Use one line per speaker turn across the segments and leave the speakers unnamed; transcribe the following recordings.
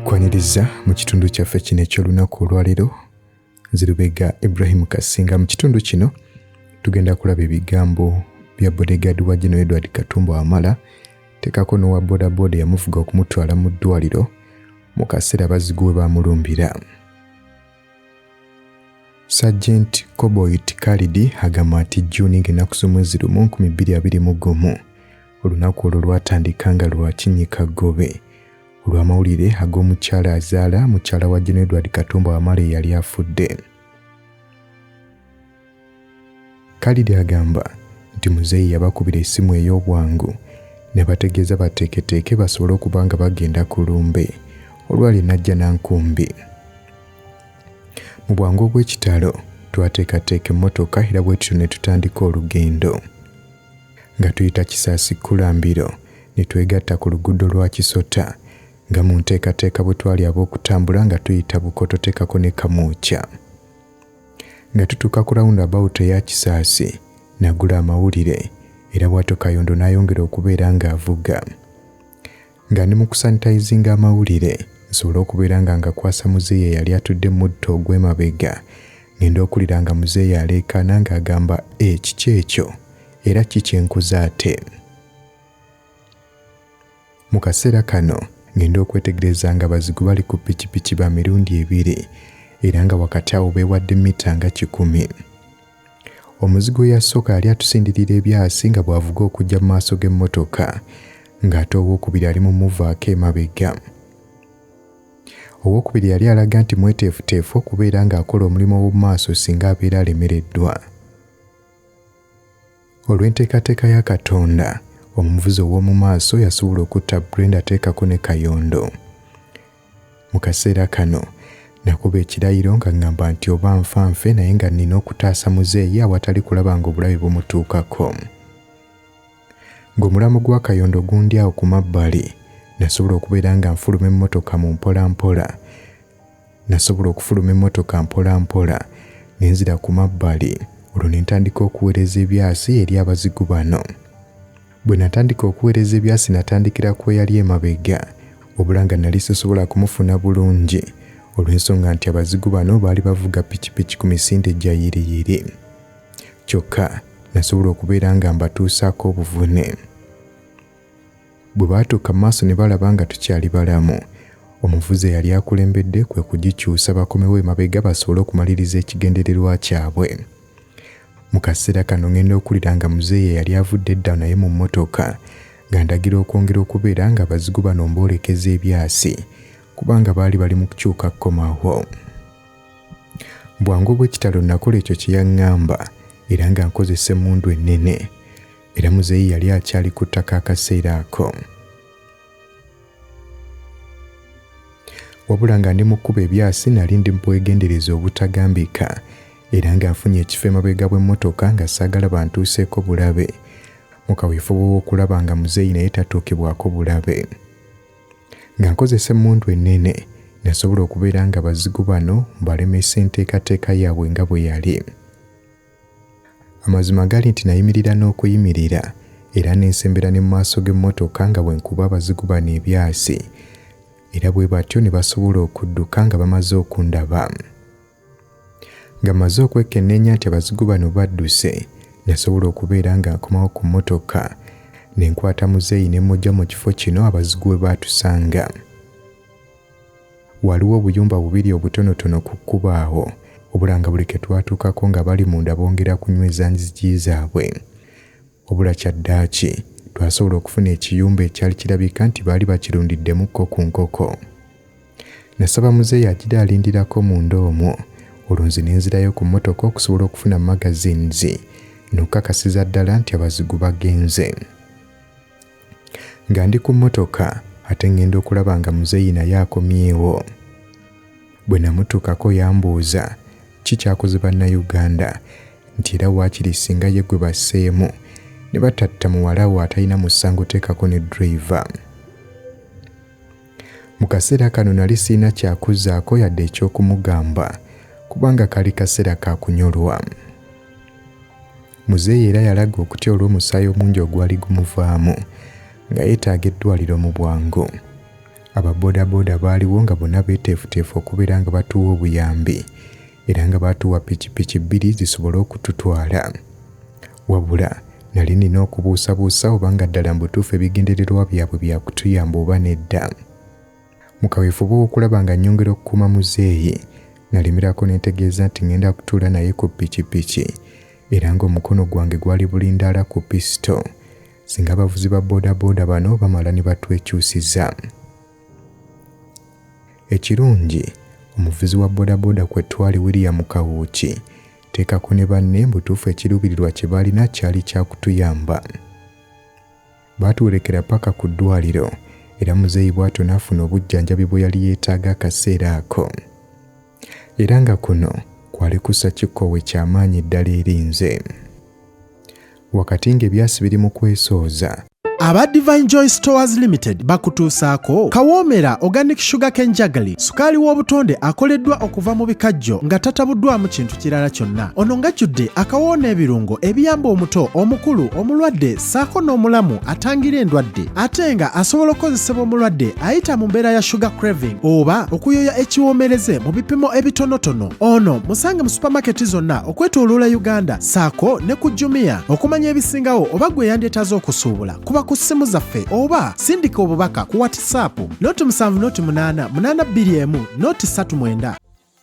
kwaniriza mu kitundu kyaffe kino eky'olunaku olwaleero nzirubega ibrahimu kasinga mu kitundu kino tugenda kulaba ebigambo bya bodegadi wa gino edward katumba wamala tekako n'owa bodaboda eyamuvuga okumutwala mu ddwaliro mu kaseera bazigu we baamulumbira Sergeant Koboit Kalidi agamba nti June ng'ennaku z'omwezi lumu 2021 olunaku olwo lwatandika nga lwa kinyika ggobe olw'amawulire ag'omukyala azaala mukyala wa Gen Edward Katumba Wamala eyali afudde. Kalidi agamba nti muzeeyi yabakubira essimu ey'obwangu ne bategeeza bateeketeeke basobole okuba nga bagenda ku lumbe olwali najja na nkumbi. Mu bwangu obw'ekitalo twateekateeka emmotoka era bwe tutyo ne tutandika olugendo. Nga tuyita Kisaasi Kkulambiro ne twegatta ku luguudo lwa Kisota nga mu nteekateeka bwe twali ab'okutambula nga tuyita Bukoto teekako ne Kamwokya. nga tutuuka ku round about eya kisaasi nagula amawulire era bwatyo kayondo n'ayongera okubeera ng'avuga nga ndi mu kusanitayizinga amawulire nsobole okubeera nga ngakwasa muzeeyi eyali atudde mudto ogw'emabega ngenda okulira nga muzeeyi aleekaana ng'agamba ekiki eh, ekyo era ki kyenkoze ate Mu kaseera kano ngenda okwetegereza nga bazigu bali ku pikipiki ba mirundi ebiri era nga wakati awo beewadde mita nga kikumi. Omuzigu eyasooka yali atusindirira ebyasi nga bw'avuga okujja mu maaso g'emmotoka ng'ate owookubiri ali mu muvaako emabega. Owookubiri yali alaga nti mweteefuteefu okubeera ng'akola omulimu ow'omu maaso singa abeera alemereddwa. Olw'enteekateeka ya Katonda, omuvuzi ow'omu maaso yasobola okutta Brenda ateekako ne Kayondo. Mu kaseera kano nakuba ekirayiro nga ŋŋamba nti oba nfa nfe naye nga nnina okutaasa muzeeyi awatali kulaba ng'obulabe bumutuukako. Ng'omulambo gwa Kayondo gundi awo ku mabbali, nasobola okubeera nga nfuluma emmotoka mu mpolampola Nasobola okufuluma emmotoka mpola mpola ne nzira ku mabbali olwo ne ntandika okuweereza ebyasi eri abazigu bano. Bwe natandika okuweereza ebyasi natandikira ku eyali emabega wabula nga nali sisobola kumufuna bulungi olw'ensonga nti abazigu bano baali bavuga pikipiki ku misinde gya yiriyiri. Kyokka nasobola okubeera nga mbatuusaako obuvune. Bwe baatuuka mu maaso ne balaba nga tukyali balamu. Omuvuzi eyali akulembedde kwe kugikyusa bakomewo emabega basobole okumaliriza ekigendererwa kyabwe. Mu kaseera kano ngenda okulira nga muzeeyi eyali avudde edda naye mu mmotoka ng'andagira okwongera okubeera nga abazigu bano mboolekeza ebyasi kubanga baali bali mu kukyuka kukomawo. Bwangu obw'ekitalo nakola ekyo kye yaŋŋamba era nga nkozesa emmundu ennene. era muzeeyi yali akyali ku ttaka akaseera ako wabula nga ndi mu kkuba ebyasi nali ndi bwegendereza obutagambika era ng'afunye ekifo emabega bw'emmotoka nga saagala bantuuseeko bulabe mu kaweefube w'okulaba nga muzeeyi naye tatuukibwako bulabe nga nkozesa emmundu ennene nasobola okubeera nga bazigu bano balemesa enteekateeka yaabwe nga bwe yali Amazima gali nti nayimirira n'okuyimirira era nensembera ne mu maaso g'emmotoka nga bwe nkuba abazigu bano ebyasi era bwe batyo ne basobola okudduka nga bamaze okundaba. Nga maze okwekenneenya nti abazigu bano badduse, nasobola okubeera nga nkomawo ku mmotoka ne nkwata muzeeyi ne mmugya mu kifo kino abazigu we baatusanga. Waaliwo obuyumba bubiri obutonotono ku kkubo awo, obula nga buli ke twatuukako ng'abali munda bongera kunyweza nzigi zaabwe. Obula kyaddaaki twasobola okufuna ekiyumba ekyali kirabika nti baali bakirundiddemuko ku nkoko. Nasaba muzeeyi agira alindirako munda omwo, olwo nze ne nzirayo ku mmotoka okusobola okufuna magazines n'okukakasiza ddala nti abazigu bagenze. nga ndi ku mmotoka ate ŋŋenda okulaba nga muzeeyi naye akomyewo. Bwe namutuukako yambuuza ki kyakoze Bannayuganda nti era waakiri ssinga ye gwe basseemu ne batatta muwala wo atalina musango teekako ne driver. Mu kaseera kano nali sirina kyakuzaako yadde eky'okumugamba kubanga kaali kaseera ka kunyolwa. Muzeeyi era yalaga okutya olw'omusaayi omungi ogwali gumuvaamu nga yeetaaga eddwaaliro mu bwangu. Aba bodaboda baaliwo nga bonna beeteefuteefu okubeera nga batuwa obuyambi era nga baatuwa pikipiki bbiri zisobole okututwala. Wabula nali nina okubuusabuusa oba nga ddala mu butuufu ebigendererwa byabwe bya kutuyamba oba nedda. Mu kaweefube w'okulaba nga nnyongera okukuuma muzeeyi, nalemerako ne ntegeeza nti ng'enda kutuula naye ku pikipiki era ng'omukono gwange gwali bulindaala ku pisito singa abavuzi ba boodabooda bano bamala ne batwekyusiza. Ekirungi omuvuzi wa bodaboda kwe twali William Kawuuki teekako ne banne mbutuufu ekiruubirirwa kye baalina kyali kya kutuyamba. Baatuwerekera paka ku ddwaaliro era muzeeyi bw'atyo n'afuna obujjanjabi bwe yali yeetaaga akaseera ako. Era nga kuno kwali kussa kikkoowe kya maanyi ddala eri nze. Wakati ng'ebyasi biri mu kwesooza, aba divine
joy stores limited bakutuusaako kawoomera organic sugar cane jagli sukaali w'obutonde akoleddwa okuva mu bikajjo nga tatabuddwamu kintu kirala kyonna ono ngajjudde akawoo n'ebirungo ebiyamba omuto omukulu omulwadde saako n'omulamu atangira endwadde ate nga asobola okukozesebwa omulwadde ayita mu mbeera ya sugar craving oba okuyoya ekiwoomereze mu bipimo ebitonotono ono musange mu supamaketi zonna okwetooloola uganda saako ne ku jumia okumanya ebisingawo oba gwe yandyetaaze okusuubula kuba ku ssimu zaffe oba sindika obubaka ku whatsapp noti 7 noti 8 8 2 1 noti 39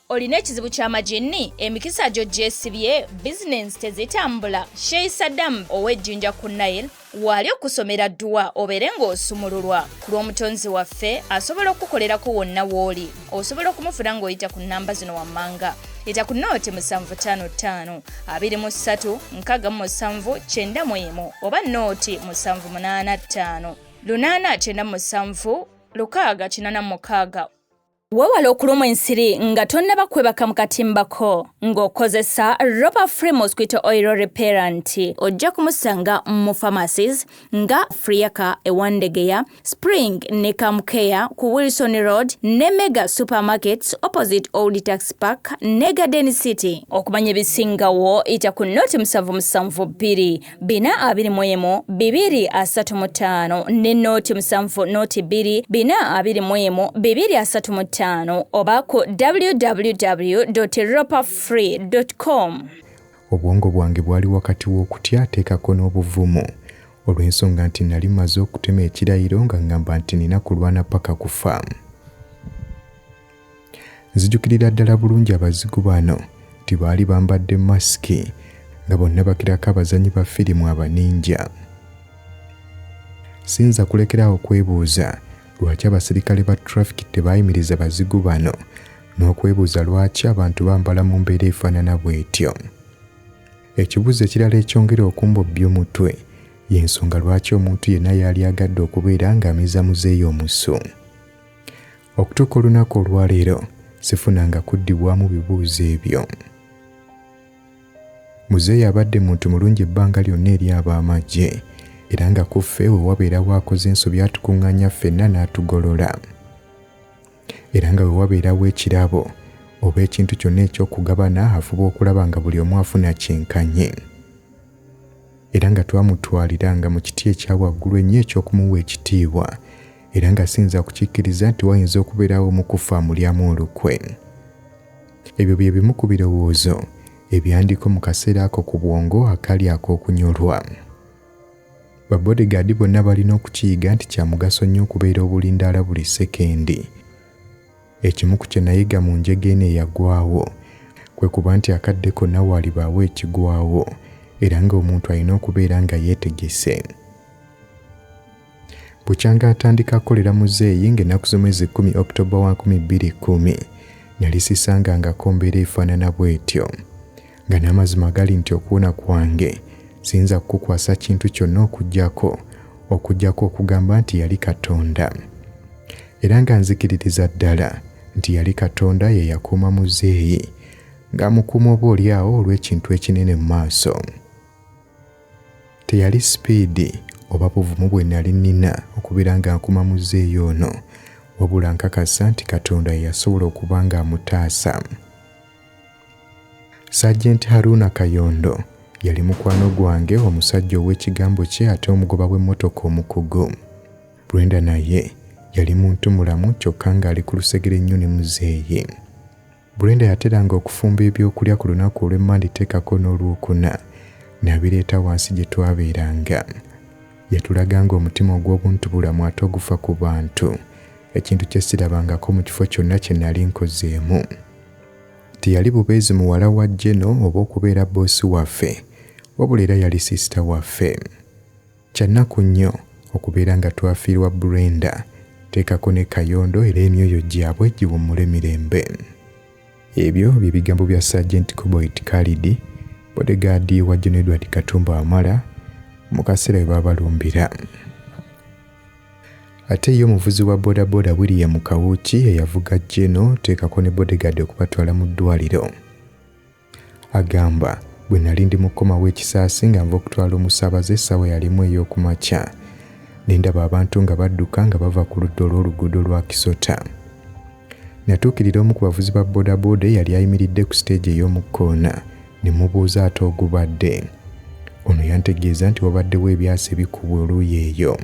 olina
ekizibu kya majinni emikisa gyo gyesibye bizinensi tezitambula shei saddamu ow'ejjinja ku nile waali okusomera dduwa obeere ng'osumululwa ku lw'omutonzi waffe asobola okukukolerako wonna w'oli osobola okumufuna ng'oyita ku nnamba zino wammanga yita ku nooti musanvu ttaano ttaano abiri mu ssatu nkaaga mu musanvu kyenda mu emu oba nooti musanvu munaana ttaano lunaana kyenda mu musanvu lukaaga kinana mukaaga Wewale okulumwa ensiri nga tonnaba kwebaka mu katimba ko ng'okozesa Ropa Free Mosquito Oil Repellent. Ojja kumusanga mu pharmacies nga Friaka e Wandegeya, Spring ne Kamukea ku Wilson Road ne Mega Supermarkets opposite Old Tax Park ne Garden City. Okumanya ebisingawo yita ku nooti musanvu musanvu bbiri bina abiri mu emu bibiri asatu mu ttaano ne nooti musanvu nooti bbiri bina abiri mu emu bibiri asatu mu ttaano oba ku www ropa free com obwongo
bwange bwali wakati w'okutya ateekako n'obuvumu olw'ensonga nti nali maze okutema ekirayiro nga ngamba nti nina kulwana paka kufa Nzijukirira ddala bulungi abazigu bano nti baali bambadde masiki nga bonna bakirako abazanyi ba firimu abaninja. Siyinza kulekerawo okwebuuza lwaki abasirikale ba trafiki tebaayimiriza bazigu bano n'okwebuuza lwaki abantu bambala mu mbeera efaanana bw'etyo. Ekibuuzo ekirala ekyongera okumbobbya omutwe y'ensonga lwaki omuntu yenna yaali agadde okubeera ng'amiza muzeeyi omusu. okutuuka olunaku olwaleero sifunanga kuddibwamu bibuuzo ebyo muzeeyi abadde muntu mulungi ebbanga lyonna eri ab'amagye era nga ku ffe we wabeerawo akoze ensobi atukuŋŋaanya ffenna n'atugolola era nga we wabeerawo ekirabo oba ekintu kyonna eky'okugabana afuba okulaba nga buli omu afuna kyenkanye era nga twamutwalira nga mu kiti ekya waggulu ennyo eky'okumuwa ekitiibwa era nga siyinza kukikkiriza nti wayinza okubeerawo omukufa amulyamu olukwe ebyo bye bimu ku birowoozo ebyandiko mu kaseera ako ku bwongo akali ak'okunyolwa babodegaadi bonna balina okukiyiga nti kya mugaso nnyo okubeera obulindaala buli sekendi ekimu ku kye nayiga mu njega eno eyagwawo kwe kuba nti akadde konna waalibaawo ekigwawo era ng'omuntu alina okubeera nga yeetegese bukyanga atandika kukolera muzeeyi ng'ennaku z'omwezi kkumi oktoba wa 2010 nali sisangangako mbeera efaanana bw'etyo nga n'amazima gali nti okuwona kwange siyinza kukukwasa kintu kyonna okugyako okugyako okugamba nti yali katonda era nga nzikiririza ddala nti yali katonda ye yakuuma muzeeyi ng'amukuuma oba olyawo olw'ekintu ekinene mu maaso Teyali sipiidi oba buvumu bwe nnali nnina okubeera nga nkuma muzeeyi ono, wabula nkakasa nti Katonda ye yasobola okuba ng'amutaasa. Sajenti Haruna Kayondo yali mukwano gwange, omusajja ow'ekigambo kye ate omugoba w'emmotoka omukugu. Brenda naye yali muntumulamu kyokka ng'ali ku lusegere nnyo ne muzeeyi. Brenda yateranga okufumba eby'okulya ku lunaku olw'e Mmande teekako n'Olwokuna n'abireeta wansi gye twabeeranga. Yatulaganga omutima ogw'obuntubulamu ate ogufa ku bantu, ekintu kye sirabangako mu kifo kyonna kye nnali nkozeemu. Teyali bubeezi muwala wa Jeno oba okubeera bboosi waffe wabula era yali siisita waffe. Kyannaku nnyo okubeera nga twafiirwa Brenda. Teekako ne Kayondo era emyoyo gyabwe giwummule mirembe. Ebyo bye bigambo bya Sergeant Koboit Kalidi, bodegaadi wa Gen Edward Katumba Wamala mu kaseera we baabalumbira. Ate ye omuvuzi wa bodaboda William Kawuki eyavuga Geno teekako ne bodegaadi okubatwala mu ddwaaliro. Agamba, Bwe nnali ndi mu kukomawo e Kisaasi nga nva okutwala omusaabaze essaawa yali emu ey'oku makya, ne ndaba abantu nga badduka nga bava ku ludda olw'oluguudo lwa Kisota. Natuukirira omu ku bavuzi ba bodaboda eyali ayimiridde ku siteegi ey'omu kkoona ne mubuuza ate ogubadde. Ono yantegeeza nti wabaddewo ebyasi ebikubwa oluuyi eyo.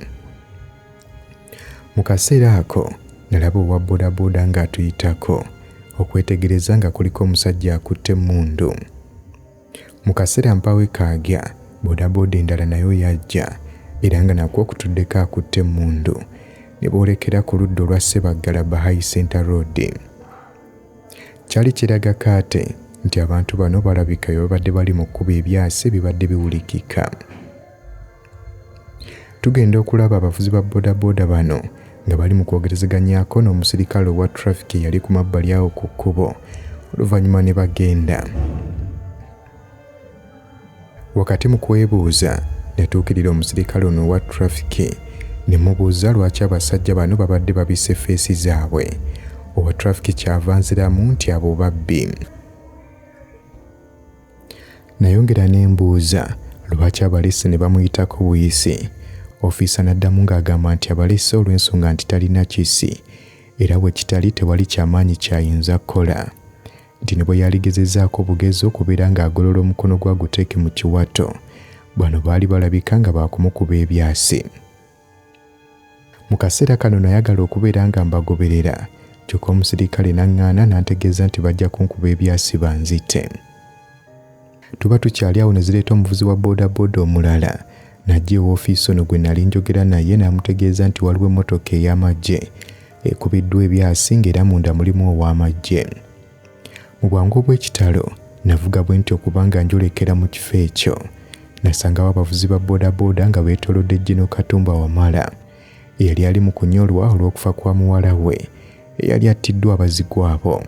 Mu kaseera ako nalaba owa bodaboda ng'atuyitako okwetegereza nga kuliko omusajja akutte emmundu. Mu kaseera mpaawo ekaagya bodaboda endala nayo yajja era nga nakwo okutuddeko akutte emmundu ne boolekera ku ludda olwa Ssebaggala Bahai Center Road. Kyali kiraga kaate nti abantu bano balabika bye babadde bali mu kkuba ebyasi ebibadde biwulikika. Tugenda okulaba abavuzi ba bodaboda bano nga bali mu kwogerezeganyako n'omusirikale owa traffic eyali ku mabbali awo ku kkubo oluvannyuma ne bagenda wakati mu kwebuuza natuukirira omusirikale ono owa traffic ne mubuuza lwaki abasajja bano babadde babisse feesi zaabwe owa traffic kyava nziramu nti abo babbi Nayongera ne mbuuza lwaki abalesse ne bamuyitako buyisi. Ofiisa n'addamu ng'agamba nti abalesse olw'ensonga nti talina kissi era bwe kitali tewali kya maanyi ky'ayinza kukola. Nti ne bwe yaligezezzaako bugezi okubeera ng'agolola omukono gwe aguteeke mu kiwato, bano baali balabika nga baakumukuba ebyasi. mu kaseera kano nayagala okubeera nga mbagoberera kyokka omusirikale n'aŋŋaana n'antegeeza nti bajja kunkuba ebyasiba nzite tuba tukyali awo ne zireeta omuvuzi wa boodabooda omulala najja ewoofiisi ono gwe nali njogera naye n'amutegeeza nti waliwo emmotoka ey'amagye ekubiddwa ebyasi ng'era munda mulimu ow'amagye Mu bwangu obw'ekitalo navuga bwe nti okubanga njolekera mu kifo ekyo nasangawo abavuzi ba bodaboda nga beetolodde Gino Katumba Wamala eyali ali mu kunyolwa olw'okufa kwa muwala we eyali attiddwa abazigu abo.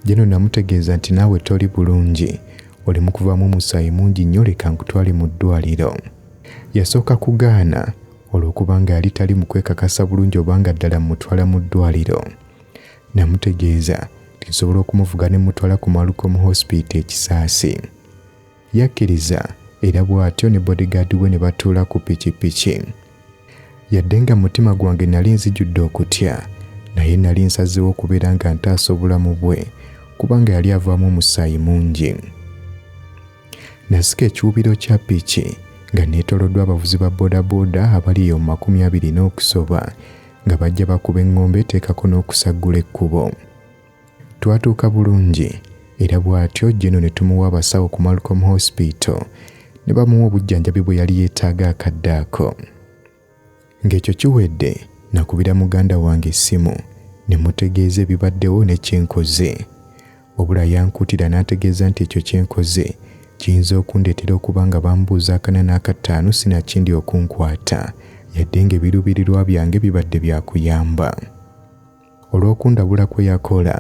Gino namutegeeza nti naawe toli bulungi oli mu kuvaamu omusaayi mungi nnyo leka nkutwale mu ddwaliro. Yasooka kugaana olw'okuba nga yali tali mu kwekakasa bulungi obanga ddala mmutwala mu ddwaliro. Namutegeeza nti nsobola okumuvuga ne mutwala ku Malukom Hospital ekisaasi. Yakkiriza era bw'atyo ne bodyguard we ne batuula ku pikipiki. Yadde nga mutima gwange nali nzijudde okutya, naye nali nsazeewo okubeera nga ntaasa obulamu bwe kubanga yali avaamu omusaayi mungi. Nasika ekiwubiro kya piki nga neetoloddwa abavuzi ba bodaboda abali eyo mu makumi abiri n'okusoba nga bajja bakuba eŋŋombe eteekako n'okusaggula ekkubo. Twatuuka bulungi era bw'atyo Jeno ne tumuwa abasawo ku Malcolm Hospital ne bamuwa obujjanjabi bwe yali yeetaaga akadde ako. Ng'ekyo kiwedde nakubira muganda wange essimu ne mutegeeza ebibaddewo ne kye nkoze. Wabula yankuutira n'ategeeza nti ekyo kye nkoze kiyinza okundeetera okuba nga bambuuza akana n'akattaano sinakindi okunkwata yadde ng'ebiruubirirwa byange bibadde bya kuyamba. Olw'okundabula kwe yakola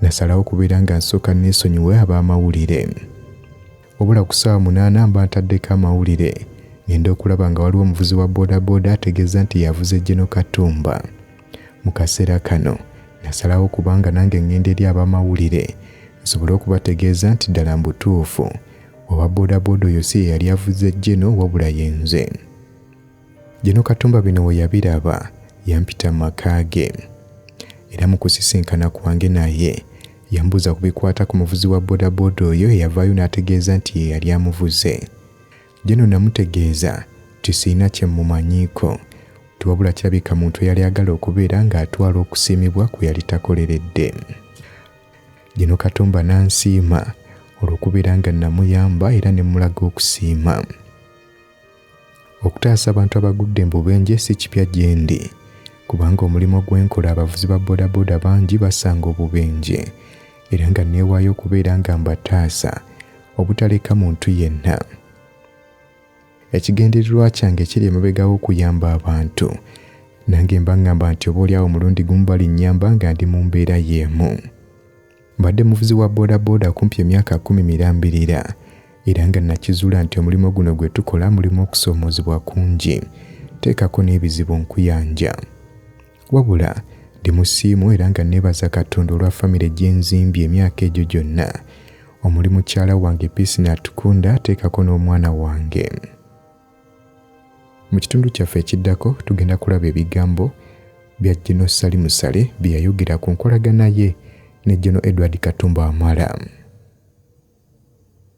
nasalawo okubeera nga nsooka neesonyiwe ab'amawulire. Wabula ku ssaawa munaana mba ntaddeko amawulire ng'enda okulaba nga waliwo omuvuzi wa bodaboda ategeeza nti yavuze Geno Katumba. Mu kaseera kano nasalawo kubanga nange ngenda eri abamawulire nsobole okubategeeza nti ddala mbutuufu owa bodaboda oyo si yeyali avuzze Geno wabula yenze. Geno Katumba bino we yabiraba yampita mu maka ge era mu kusisinkana kwange naye yambuuza ku bikwata ku muvuzi wa bodaboda oyo eyavaayo n'ategeeza nti ye yali amuvuze. Jeno namutegeeza nti sirina kye mmumanyiiko nti wabula kirabika muntu eyali agala okubeera ng'atwala okusiimibwa kwe yali takoleredde. Jeno Katumba n'ansiima olw'okubeera nga namuyamba era ne mmulaga okusiima. Okutaasa abantu abagudde embubenje si kipya gye ndi kubanga omulimu gwe nkola abavuzi ba bodaboda bangi basanga obubenje era nga neewaayo okubeera nga mbataasa obutaleka muntu yenna ekigendererwa kyange kiri emabegao okuyamba abantu nange mba ngamba nti oba olyawo omulundi gumu balinnyamba nga ndi mu mbeera y'emu mbadde muvuzi wa bodaboda kumpi emyaka kumi mirambirira era nga nakizuula nti omulimu guno gwe tukola mulimu okusoomoozebwa kungi teekako n'ebizibu nkuyanja Wabula ndi musiimu era nga neebaza Katonda olwa famire gye nzimbye emyaka egyo gyonna omuli mukyala wange Peace Natukunda ateekako n'omwana wange. Mu kitundu kyaffe ekiddako tugenda kulaba ebigambo bya Geno Ssali Musale bye yayogera ku nkolagana ye ne Geno Edward Katumba Wamala.